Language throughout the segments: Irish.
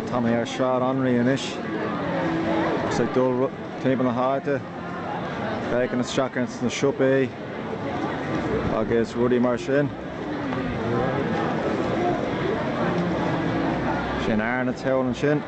Tá mé ar Shráid Anraí anois agus tá mé ag dul timpeall na háite. ag féachaint isteach sna siopaí agus rudaí mar sin. Sin Arnotts thall ansin.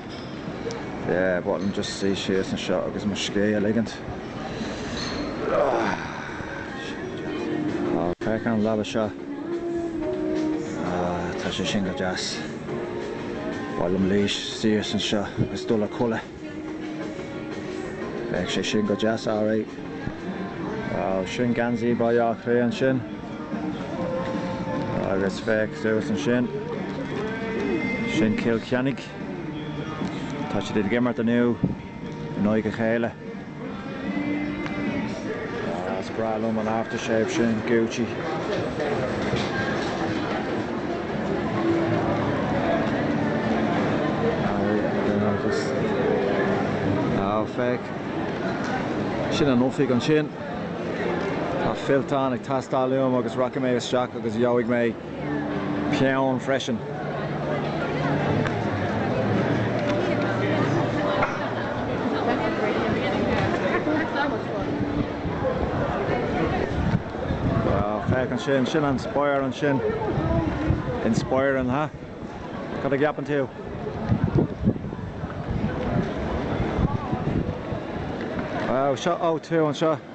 Yeah, bhuel, ba mhaith liom just suí síos anseo agus mo scíth a ligint. Féach an leaba seo. Ah, tá sé sin go deas. Ba mhaith liom luí síos anseo agus dul a chodladh. Bheadh sé sin go deas alright. Bhuel, sin geansaí Bhaile Átha Cliath ansin. Agus féach suas ansin. Sin Cill Chainnigh. Tá siad ag imirt inniu in aghaidh a chéile. Ah, is breá liom an aftershave sin Gucci. Aw, féach. Sin an oifig ansin. Tá fillteán ag teastáil uaim agus rachaidh mé isteach agus gheobhaidh mé. peann freisin. Féach ansin, sin an Spire ansin. Inspeiring, ha? Cad a cheapann tú? Wow, seo O2 anseo.